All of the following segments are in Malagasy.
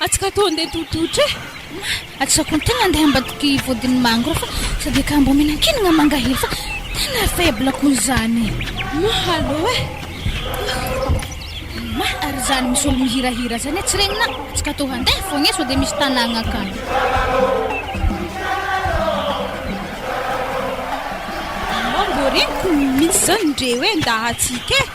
Atsika ato andeha tototra e. Atsika koa tena andeha ambadiky vodin'ny mangro fa sady akambo omena kinagna mangahely fa tena faible koa izany. Ma allo e. Ma ary izany misy olo mihirahira izany e tsy regnina. Atsika ato handeha foagna e sao dia misy tanàgna akany. Mbô regniko mihitsy izany ndreo e ndahatsika e.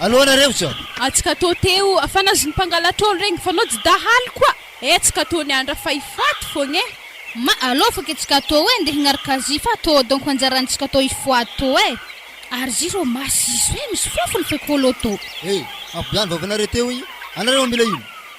alohanareo zao. Atsy ka to teo fanazon'ny mpangalatr'ol regny fa nao tsy dahalo koa eh tsy ka to ny andra fa hifaty fogna eh. Ma alou fa ke tsy ka to eh ndeha hignaraka azy fa to donc anjaran'ny tsy ka to hifoaty to eh. Ary zy rô masy izy hoe misy fofony fe kôlô to. Hey, mampibola ny vavanareo teo igny anareo mamela ino?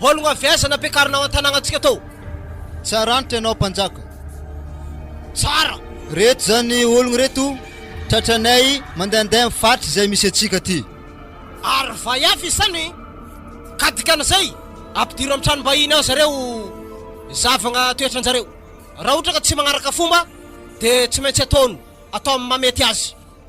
Ologno avy aiza no ampiakarina ao an-tanàgnantsika atao? Tsara antitra ianao mpanjaka. Tsara! Reto zany ologno reto tratranay mandehandeha am faritra izay misy antsika aty. Ary vay hafa isany ka dikan'izay ampidiro am tranom-bahiny ao zareo zavagna toetranjareo. Raha ohatra ka tsy magnaraka fomba dia tsy maintsy ataony atao am mamety azy.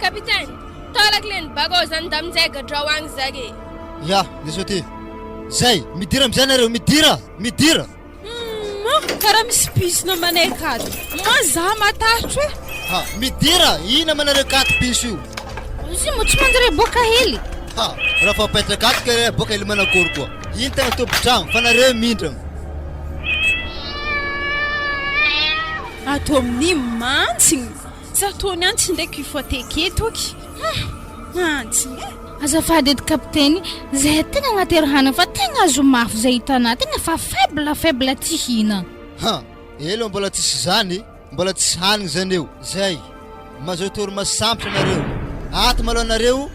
Capitaine, tolak le ny bako ao zany nda minjay gadrao agny zak e. Ya, le soty. Zay, midira amizay nareo, midira! Midira! Humm an! Karaha misy piso namanay akato. Moa za matahotro e! Ha, midira! Ino amanareo akato piso io? Izy moa tsy mandre boka hely. Ha, raha fa paitra akato kay re boka hely manakory koa. Ino tena tompon-tragno fa nareo mindrana. Ato amin'i mantsy! Tsa toa ny antsy ndray ki foateke eto ki ah antsy eh. Azafady edy kapiteny, zay tegna agnaterahana fa tegna azo mafy zay hitanà, tegna fa faible faible tsy hina. Ha! Elo mbola tsisy zany, mbola tsisy hanigny zany eo, zay! Mazotoa ry maso sampitra nareo, ato malôha nareo,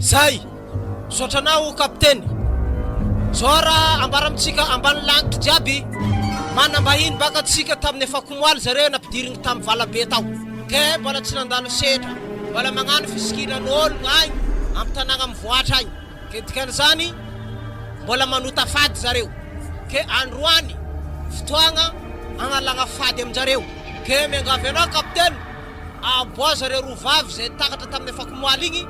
Zay! Misaotra anao o Kapiteny! Zao ara ambara amintsika ambany lanitra jiaby, manam-bahiny baka antsika tamin'ny afakomoaly zareo nampidirigny tam valabe tao. Ke mbola tsy nandalo setra, mbola magnano fisikina an'ologno agny am tanàgna mivoatra agny, ke dikan'izany mbola manota fady zareo. Ke androany fotoagna agnalagna fady aminjareo. Ke miangavy anao Kapiteny, aboaha zareo roa vavy zay takatra tamin'ny afakomoaly igny,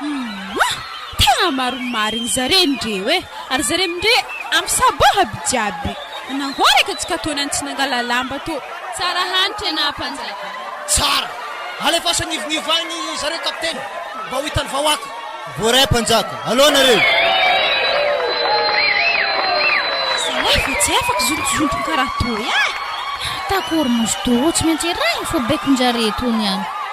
Humm! Tena maro marigny zare ndreo e! Ary zare mindre ampisaboha by jiaby! Nangoaraka tsy katony any tsy nangala lamba to! Tsara hany tena mpanjaka. Tsara! Alefaso agnivognivo agny zareo kapiteny mba ho hitan'ny vahoaka. Voaray mpanjaka alou nareo. Zahay fa tsy afaka zontozontogny karaha toy ah! Takory mazotoa tsy maintsy arahina fo baikon-dRare tony an!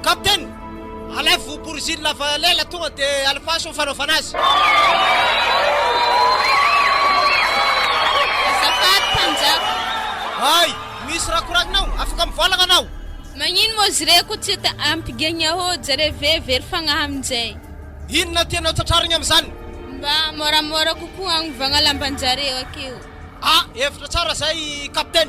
Captain! Alevo Boriziny lava lela tonga de alifaso ny fanaovana azy! Azafady Mpanjaka! Hay! Misy raha koragninao? Afaka mivolagna anao! Magnino moa izy reko tsy te ampigegna hô? Jereo ve very fagnahy amin'izay! Inona tianao tratrarigna amin'izany? Mba môramôra kokoa agnovagna lamban-jareo akeo! Ah! Hevitra tsara izay Captain!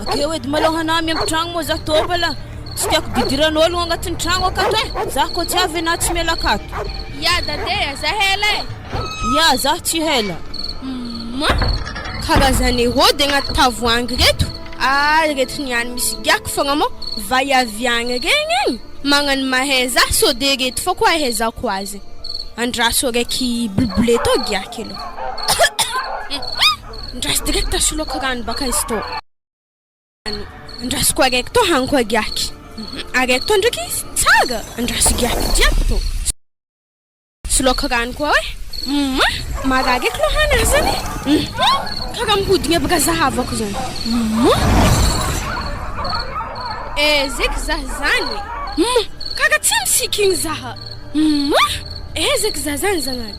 Akeo edy malao hanahy miampy tragno moa za to bala Tsy tiako bidiran'ologno agnatin'ny tragno akato e eh. Za ko tsy avy na tsy miala akato Ya dadea za hela e eh. Ya za tsy hela Ma karazane rody agnaty tavoangy reto Ah reto ny any misy giako fogna mo vay avy agny regny agny Magnano mahay za so de reto fa ko ahaizako azy Andraso araiky blbleto giaky aloha Ndraso direct soloako rano baka izy to. Andrasoko araiky to haniko agiaky. Araiky to ndraiky izy tsara andraso giaky jiaby to. Soloako rano koa hoe. Hum, marary eky lohana azy zany e. Hum, karaha mihodina aby raha zahavako zany. Hum. Ezeky zah zany. Hum, karaha tsy misiky igny zaha. Hum, ezeky zah zany zagnahary.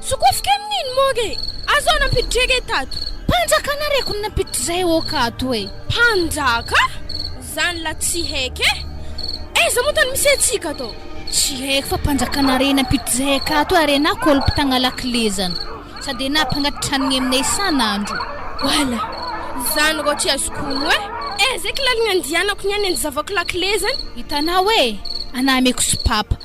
Sokofiko amin'iny moa re! Azo aho nampiditra re tato! Mpanjaka na reko no nampiditra izay oka ato e! Mpanjaka? Zany la tsy haiko e! Aiza moa tany misy antsika atao? Tsy haiko fa mpanjakana re nampiditra izay akato ary ianao kolptagna lakilezana! Sady ianao mpangatitra hanigny aminay isan'andro! Voilà! Zany rô tsy azoko ono e! Aiza eky lalagna andianako niany anjy zavako lakilezany? Hitanao e! Anà ameko sopapa!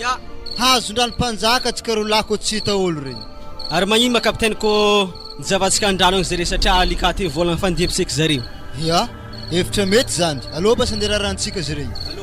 Ya, hazondrano mpanjaka tsy karolo lako tsy hita olo re. Ary magnino ma capitaine ko nizavatsika andrano agny zare satria alika ty vola nifandimpisek zareo. Ya, hevitra mety zany. Allo mba sanderarahantsika zare io.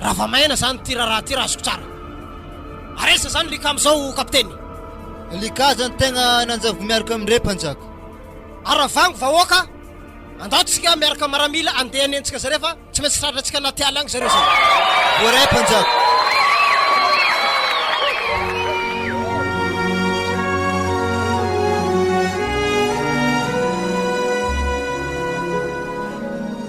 Raha vao maina zany ty raraha ty raha azoko tsara. Ary aiza zany Lika amizao kapiteny? Lika zany tegna nanjavoko miaraka am re mpanjaka. Aravango vahoaka a! Andao tsika miaraka maramila andeha hanenjika zareo fa tsy maintsy tratra tsika anaty ala agny zareo zay. Voaray mpanjaka.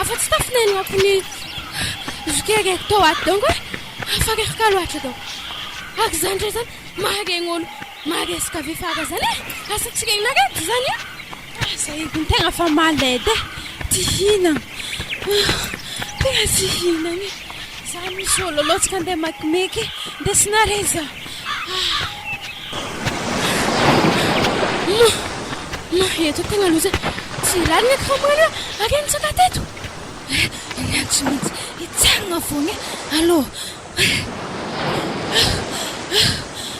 Afa-tsy tafin'anako ny zokere tao ato donko e, fa reraka loatra donko. Araka izany indray izany, maharegny olo maharesaka ve fa araka izany e? Asa tsy regninareo ve izany e? Ah, izay ediny tegna fa malade e, tsy hihinagna. Tegna tsy hihinagna e. Za misy olo loatra ka andeha makimeky, ndesinareo za. Ah. Eto tena loza tsy lalina eto fa maro eo ary nitsaka teto ny ahy tsy maintsy hitsangana foana aloha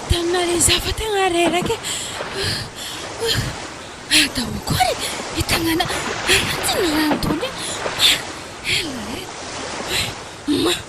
tamina rizah fa tena reraka ary tao koa ny tanàna anatin'ny rano daholo e!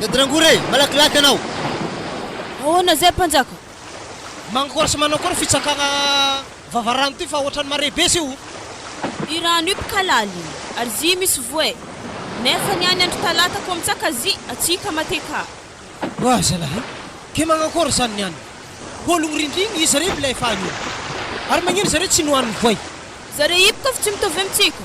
Dady Rangory e! Malakilaky anao! Ahoana izay Mpanjaka? Manakôry sy manao akôry fitsakagna vava rano ty fa ohatrany mare be sy o! I rano io tka laligny ary zy misy voay nefa ny any andro talata ko mitsaka zy atsy ka mate ka. Oa zalahy ke magnakôry zany ny any? Hôlogno rindrigny izy rey milay faha io ary magnino zareo tsy nohanin'ny voay? Zareo ipka fa tsy mitovy amintsika.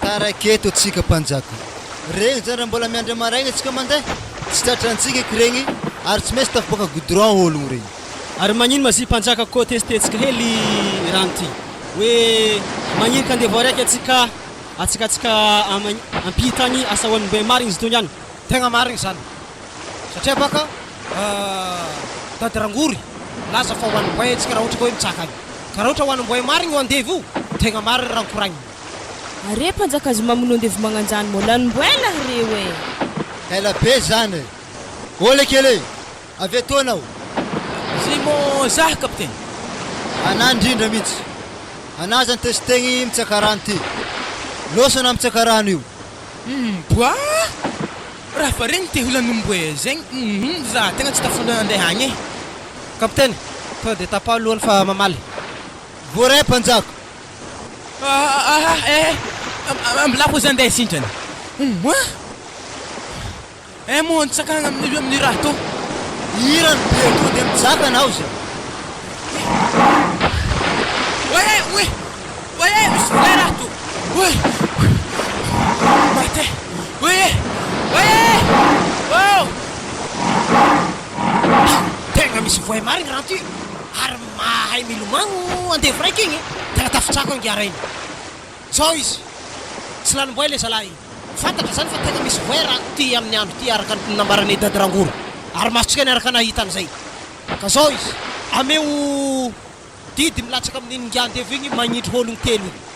Taraiky eto tsika mpanjaka. Regny zany raha mbola miandry amaraigna tsika mandeha? Tsy tratrantsika eky regny ary tsy maintsy tafaboaka goudron ologno regny. Ary magnino ma zy mpanjaka ko testetsika hely rano ty hoe magnino ka ndeha voariaka atsika atsika atsika ampita any asa hoan'ny mbe marigny zy togny any. Tegna marigny zany satria baka tady rangory milaza fa hoan'ny mbe tsika raha ohatra ka hoe mitsaka any ka raha ohatra hoan'ny mbe marigny o andevo tegna marigny raha nkoragnina. Are mpanjaka azy mamono andevo magnanjany mô lany mbo ela reo eh. Ela be zany eh. Ô le kely eh! Avy eto anao. Zay mô zah kapiteny. Anà ndrindra mintsy. Anà zany te sitegny mitsaka rano ty. Loso anà mitsaka rano io. Humm boaa! Raha fa regny te holany mbo eh zegny humm zah tegna tsy tafandra handeha agny eh. Kapiteny, tonga de tapaho lohany fa mamaly. Voaray mpanjaka. Ambilako izany dia izay sindrana. Eh moa ny tsakagna amin'io amin'ny raha tô. Hira ny be tô dia mijaka anao izay. Oye, oye, oye, misy vola raha tô. Oye, mate, oye, oye, oh. Tegna misy voay marigny raha ty. Mahay milomano andevo raika igny tena tafitrako ange ara igny zao izy tsy lanim-boay le zalahy igny fantatra zany fa tena misy voay raha ty amin'ny andro ty araka ny nambaran'i Dady Rangoro ary masontsika ny araka nahita an'izay ka zao izy ameo didy milatsaka amin'iny ngy andevo igny magnindry ologno telo igny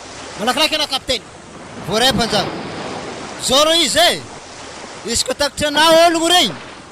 malakilaky anao Capitaine. Voaray mpanjaka. Zao reo izy e! Izy koa takotry anao ologno regny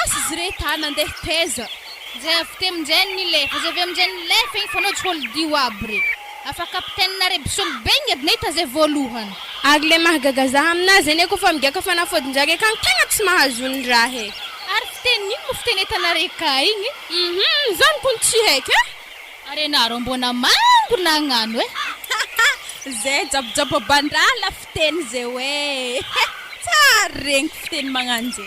Asa izy ireto ary nandeha taiza? Izay avy teo amin-dreniny ny lefa, izay avy amin-dreniny ny lefa iny fanao tsôldio aby re. Afa kapitene re mpisolo be ny adina hita zay voalohany. Ary le mahagaga za amin'azy zany eko fa migiaka fanafodin-draha re kany tegna tsy mahazo ny raha e. Ary fiteny ino mo fiteny entana re ka igny? Hum zany kony tsy haiko e. Ary enareo mbô namango nagnano e. Ze jabojaboban-draha la fiteny ze hoe tsara regny fiteny magnano ze.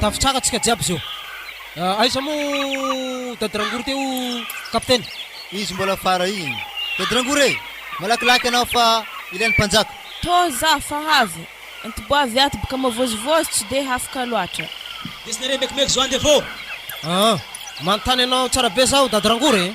Tafitsaka antsika jiaby zao. Aiza mo Dady Rangory teo Capitaine? Izy mbola fara iny. Dady Rangory e! Malakilaky anao fa ilain'ny mpanjaka. Too za fa havy. Antiboavy ato boka mavozivozy tsy de hafaka loatra. Desinareo mekimeky zao andevo. Aa! Manontany anao tsara be zaho Dady Rangory e!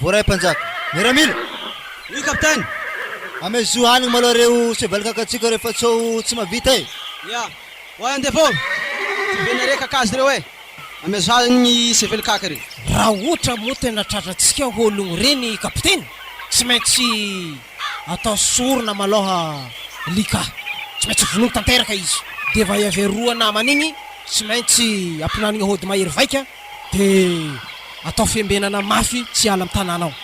Voaray mpanjaka. Miaramila! Io kapiteny! Ame zo hanigny malao reo cheval kakatsiko reo fa tsao tsy mavita e! Ia! Oay andevo ô! Tsy be nare kakazo reo e! Ame zo hanigny cheval kaka reo! Raha ohatra moa tena tratratsika ologno reny kapiteny, tsy maintsy atao sorona malao li ka! Tsy maintsy vonoy tanteraka izy! Dia va iavy aroa namany igny tsy maintsy ampinanigny hody mahery vaika Dia atao fiambenana mafy tsy hiala amin'ny tanàna ao.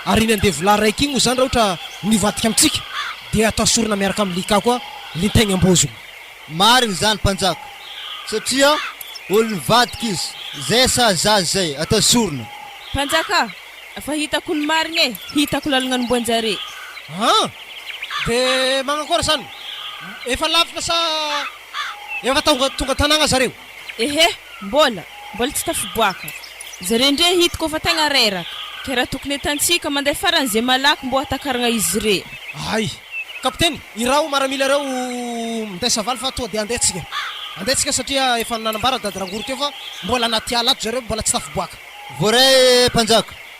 Ary iny andevolahy raiky iny moa izany raha ohatra nivadika amintsika dia atao sorona miaraka amin'ny lika koa lintainy am-bozony. Marina izany mpanjaka, satria olona nivadika izy, izay sazy zaza izay, atao sorona. Mpanjaka a! Efa hitako ny marina e! Hitako lalana ny omban-jare. An! Dia manakôry izany? Efa lavitra sa efa tonga tonga an-tanàna zareo? Ehe, mbola, mbola tsy tafiboaka. Zare ndre hitako efa tegna reraka, ke raha tokony entantsika mandeha farany ze malaky mbô hatakaragna izy re. Hay! Kapiteny, iraho maramila ireo ho minday savaly fa toa dia andeha tsika. Andeha tsika satria efa nanambara dady Rangory teo fa mbola anaty ala ato zareo, mbola tsy tafiboaka. Voaray, Mpanjaka.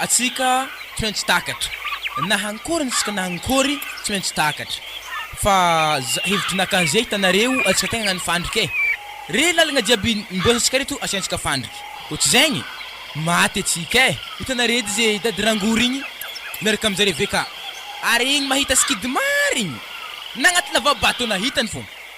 Antsika tsy maintsy takatra. Na hankôry antsika na hankôry tsy maintsy takatra. Fa za hevitro naka zay hitanareo antsika tegna agnano fandrika e. Re lalagna jiaby niboazatsika reto asiantsika fandrika. Kô tsy zegny maty antsika e. Hitanareo edy ze dady rangory igny miaraka aminjare VK. Ary igny mahita sikidy marigny nagnaty lava bateau nahitany fôgna.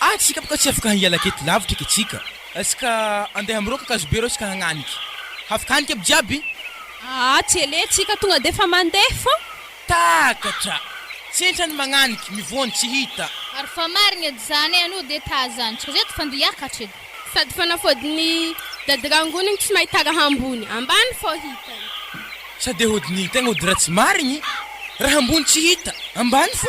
Ah tsika boka tsy afaka hiala aketo lavitra ke tsika. Ska andeha am roka kazobe reo ska hagnaniky. Hafikanika aby jiaby. Aa tsy ele tsika tonga defa mandeha fô. Takatra! Tsentra ny magnaniky, mivoha ny tsy hita. Ary fa marigny edy zany e anô de tazantsika zay edy fa nde hiakatra edy. Sady fanafody ny dady rangoniny tsy mahita raha ambony, ambany fô hitany. Sady hody ny tegna hody raha tsy marigny, raha ambony tsy hita, ambany fô.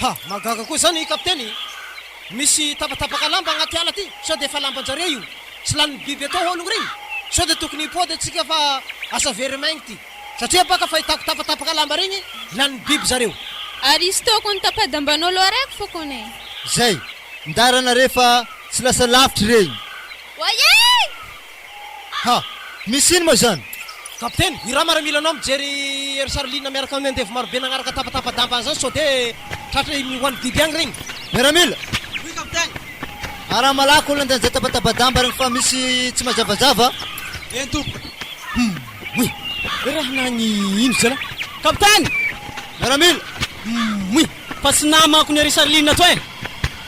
Ha! Mahagaga koa izany Kapiteny! Misy tapatapaka lamba agnaty ala ty! Sao dia efa lamban-jareo io? Tsy lanin'ny biby atao haolo regny? Sao dia tokony hipody antsika fa asa very maigny ty! Satria baka fahitako tapatapaka lamba regny lanin'ny biby zareo! Aristo kony tapa-dambanao loha reko fo kony e! Zay! Ndara nare fa tsy lasa lavitry regny! Wayee! Ha! Misy ino moa izany? Kapiteny, i Rama milanao mijery ery Charline miaraka amin'ny andevo marobe nagnaraka tapatapa-damba an'izany sao dia tratra iny ho an'i Biby agny regny. Miaramila! Oui, kapiteny! Araho malaky olona andeha hijery tapatapa-damba regny fa misy tsy mazavazava a! Eny tompoko! Hum! Oui! Raha nagny ino zalah? Kapiteny! Miaramila! Hum! Oui! Fa tsy namako ny ery Charline toy e!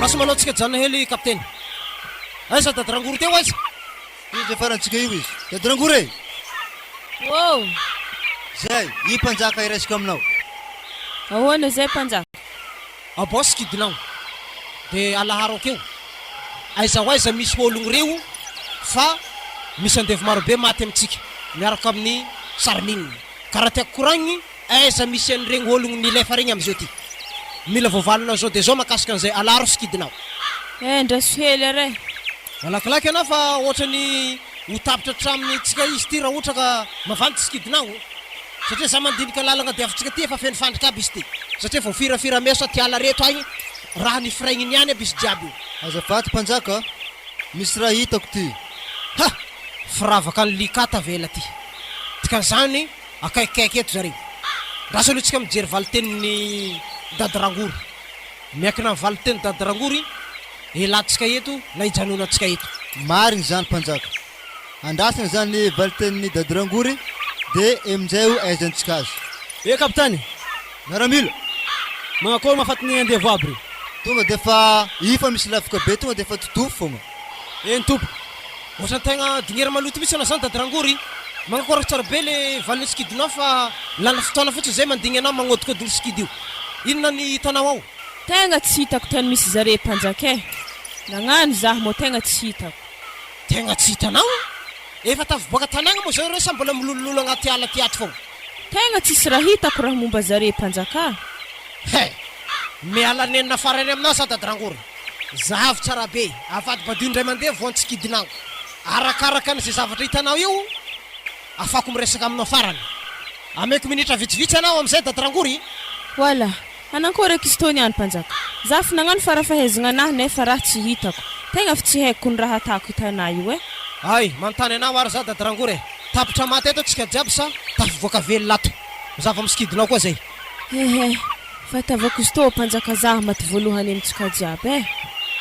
Raso manao tsika janona hely kapiteny. Aiza dady rangory teo aiza? Izy le farantsika io izy. Dady rangory e! Wow! Zay, i mpanjaka iraisiko aminao. Ahoana zay mpanjaka? Ao boss kidinao de alaharo akeo aiza ho aiza misy ologno reo fa misy andevo marobe maty amintsika miaraka amin'ny sarimine ka raha tiako koragny Aiza misy an'iregny ologno milefa regny amzao ty? Mila voavalinao zao de zao makasika an'izay alaro sikidinao. Eh ndra sohely ary eh. Malakilaky ana fa ohatrany ho tapitra atraminy tsika izy ty ra ohatra ka mavandy sikidinao oh. Satria za mandinika lalagna diavintsika ty efa feno fandrika aby izy ty. Satria voafirafira mesa aty ala rehetra agny raha nifiraignin iany aby izy jiaby oh. Azafady mpanjaka a! Misy raha hitako ty. Ha! Firavaka an'i Lika tavela ty. Dikan'izany. akaikikaiky eto zareo. Andraso aloha tsika mijery valitenin'i Dada Rangoro. Miankina amin'ny valinteny Dada Rangoro i Elantsika eto na ijanonantsika eto. Marina izany Mpanjaka. Andrasana izany valitenin'i Dada Rangory dia emin'izay ho ahaizantsika azy. Eh Kapitany! Miaramila! Manao akory ma fatin'ny andevo aby re? Tonga dia efa ifa misy lavoka be tonga dia efa todofo foana. Eny Tompoko. Ohatrany tegna dingera maloto mitsy anao zany dady rangory. Mankakôraka tsara be le valiny sikidinao fa lany fotoana fotsiny zay mandigny anao magnôdikôdigny sikidy io. Inona ny hitanao ao? Tegna tsy hitako tany misy zare mpanjaka eh. Nagnano zah mô tegna tsy hitako. Tegna tsy hitanao? Efa tafiboaka tanagna mô zao ireo sa mbola milolololo agnaty ala ty ato fôgna? Tegna tsisy raha hitako raha momba zare mpanjaka. He! Miala nenina fara ery aminao zah dady rangory. Zahavo tsara be. Avadibadiho indray mandeha vao antsikidina aho. Arakaraka an'izay zavatra hitanao eo, afahako miresaka aminao farany. Ameko minitra vitsivitsy anao amin'izay Dady Rangory. Voilà! Anankory akia ztao niany Mpanjaka? Za fo nagnano farafahaizagna anahy nefa raha tsy hitako. Tegna fo tsy haiko ny raha atako hitanà io eh! Hay! Manontany anao ary za Dady Rangory eh! Tapitra maty ato tsika jiaby sa tafivoaka velona ato? Zava misikidinao koa zay. He he, fa itiavako izy toa mpanjaka zah maty voalohany amy tsika jiaby eh!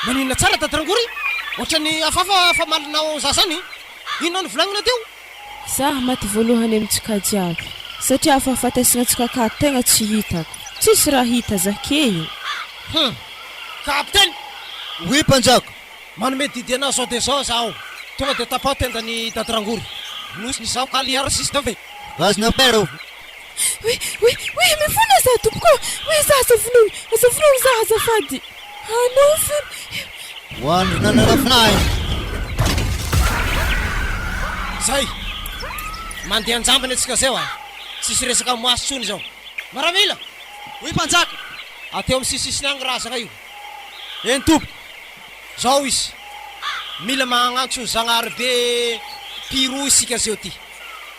Maninona tsara dady Rangory? Ohatran'ny hafahafa famalina ao zah zany. Inona no volagnina teo? Zah maty voalohany amy tsika jiaby satria afahafatesigna tsika ka tegna tsy hitako. Tsisy raha hita zah key. Hum! Kapiteny! Oui mpanjaka! Manome didy anah zao dia zao zaho. Tonga dia tapaho tenda ny dady Rangory. Nosy ny zaho ka liar sisy dave. Gaz na paire oh! Oe oe oe mifona za tompoko ô! Oe za aza vonoiny! Aza vonoiny za azafady! Anao fona! Ho an'ny nananafinahy! Zay! Mandeha an-jambany antsika zay hoa! Tsisy resaka amin'ny maso tsony zao! Maramila! Oe mpanjaka! Ateo amin'ny sisisisiny agny razana io! Eny tompoko! Zao izy! Mila magnantso ny Zagnahary be Piro isika zeo ty!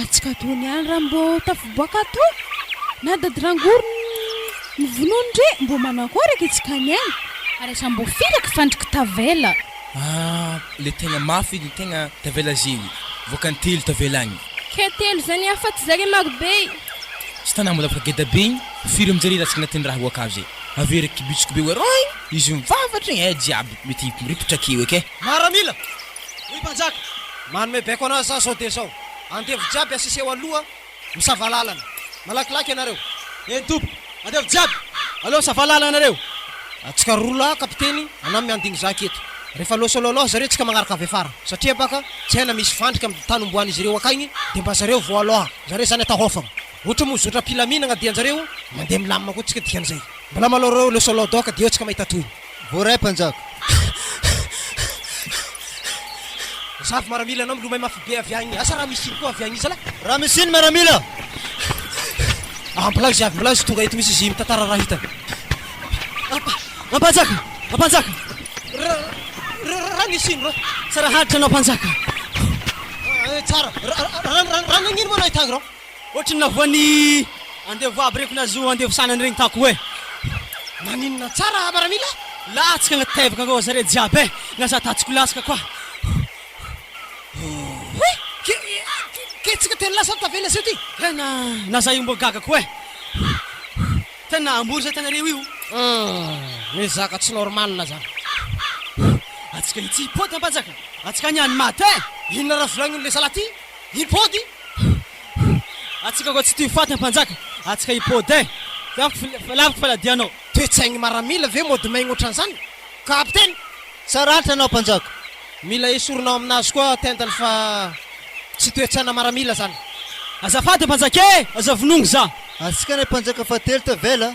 Atsikato niany ra mbo tafiboaka ato na dady rangory ny vonono ndre mbo manakoraka itsika any any. Ary aza mbo firaka fandriko tavela. Ah le tegna mafy edy ny tegna tavela zegny voakany telo tavela agny. Kay telo zany afaty zare maro be. Tsy tana mbola afaka geda be igny firy amjare ratsy agnatin'ny raha oaka avy zay avy eo raiky kibitsiko be oe roing izy mivavatra igny eh jiaby mety miripitra akeo eky eh. Maramila! Hoy mpanjaka, Manome baiko an'azy za zao dia zao, andevo jiaby asia seho aloha misava lalana. Malakilaky ianareo. Eny tompoko, andevo jiaby aloha misava lalana nareo. Atsika roa lahy kapiteny anamy mianding zaka eto. Refa loha solo aloha zareo tsika magnaraka avy afara. Satria baka tsy haina misy fandrika am tany omboan'izy ireo akaigny dia mba zareo vao aloha zareo zany atao hofagna. Ohatry mo zotra am pilaminagna dia njareo mandeha milamina koa tsika dikan'izay. Mbola malao reo loha solo doka dia eo tsika mahita tohiny. Voaray mpanjaka. Zafy maramila anao milomay mafy be avy agny asa ramesiny koa avy agny zalahy. Ramesiny maramila. Aha mbola izy avy mbola izy tonga eto misy izy mitantara raha hitany. Rampanjaka! Rampanjaka! Ramesiny rô! Tsara haditra anao mpanjaka. Tsara! Raha nagnino moa anao hitany rô? Ohatry ny navoan'ny andevo aby reko na zo andevo sanany regny tako hoe naninona tsara raha maramila latsaka agnaty tevaka akao zare jiaby e na za tatsiko latsaka koa ohh ketsaka telo lahy sao tavela aseo ty tena na za io mbô gaga koa e ohh tena ambory zay tagnareo io umm mizaka tsy normale zany ohh atsika itsy pôty ampanjaka atsika agny any maty e inona raha volagnin'olo le salahy ty. Hipody Atsika koa tsy tia faty ny mpanjaka Atsika hipody eh Laviko laviko faladianao. Toe-tsaigny maramila ve mody maigny otran'zany kapiteny? Tsara atra anao mpanjaka. Mila esorinao aminazy koa tendany fa tsy toe-tsaina maramila zany. Azafady mpanjaka eh! Aza vonoigny za. Atsika anie mpanjaka fahatelo tavela.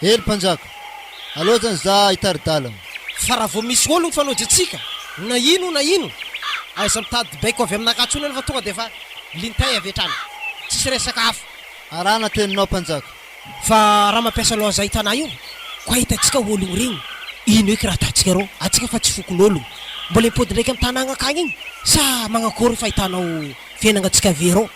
Hely mpanjaka, aleo zany za hitari-dalana. Fa raha vao misy olona mifanojo antsika, na ino na ino, aza mitady baiko avy aminakahy intsony ianao fa tonga dia efa lintay avy hatrany. Tsisy resaka hafa. Arahana teninao mpanjaka. Fa raha mampiasa loha zay tana io, ko ahitantsika ologno regny, ino eky raha ataontsika rô? Antsika fa tsy fokon'ologno. Mbola impody ndraiky amin'ny tana agnankagny igny? Sa magnakory fahitanao fiainagna antsika vé rô?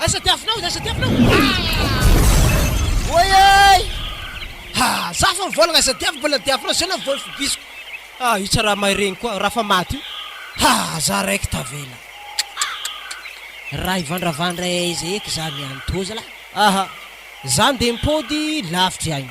Aiza diavinao, aiza diavinao ah! Oay ay Ha, za fa mivolagna aiza diavy mbola diavinao zay na voly fibisiko Ah, io tsara mahay regny koa, raha fa maty io Ha, za raiky tavela Raha hivandravandra aiza eky za miantoa zalahy Aha, za ndeha mipody lavitry aigny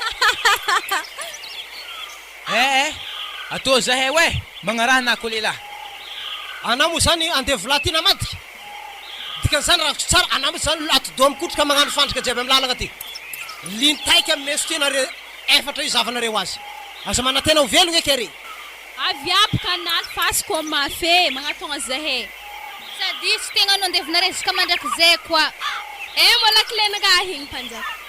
Hahahahahah! Eh eh! Atao izay hay weh! Magnaraha anah koa lehilahy! Anah moa izany andevolahy ity namadika! Dikan'izany raha azoko tsara, anah mihitsy izany atidoha mikotroka magnano fandrika jiaby amin'ny lalagna aty! Lintaika meso ty nareo efatra io zavanareo azy! Aza manantena ho velogna eky ary! Avy aby ka anah face comme mafe eh! Magnatogna izay eh! Sady tsy tegna no andevonareo izy ka mandrakizay koa! Eh! Mbola kle nagahigny mpanjaka!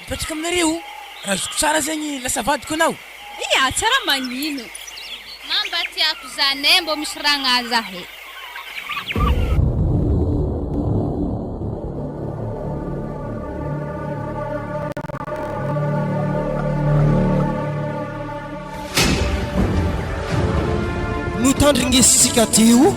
Mipetraka aminareo raha azoko tsara zegny lasa vadiko anao. Ia tsara magnino ma mba tiako zany eh mbô misy raha agnahy za eh. Notandringesitsika teo.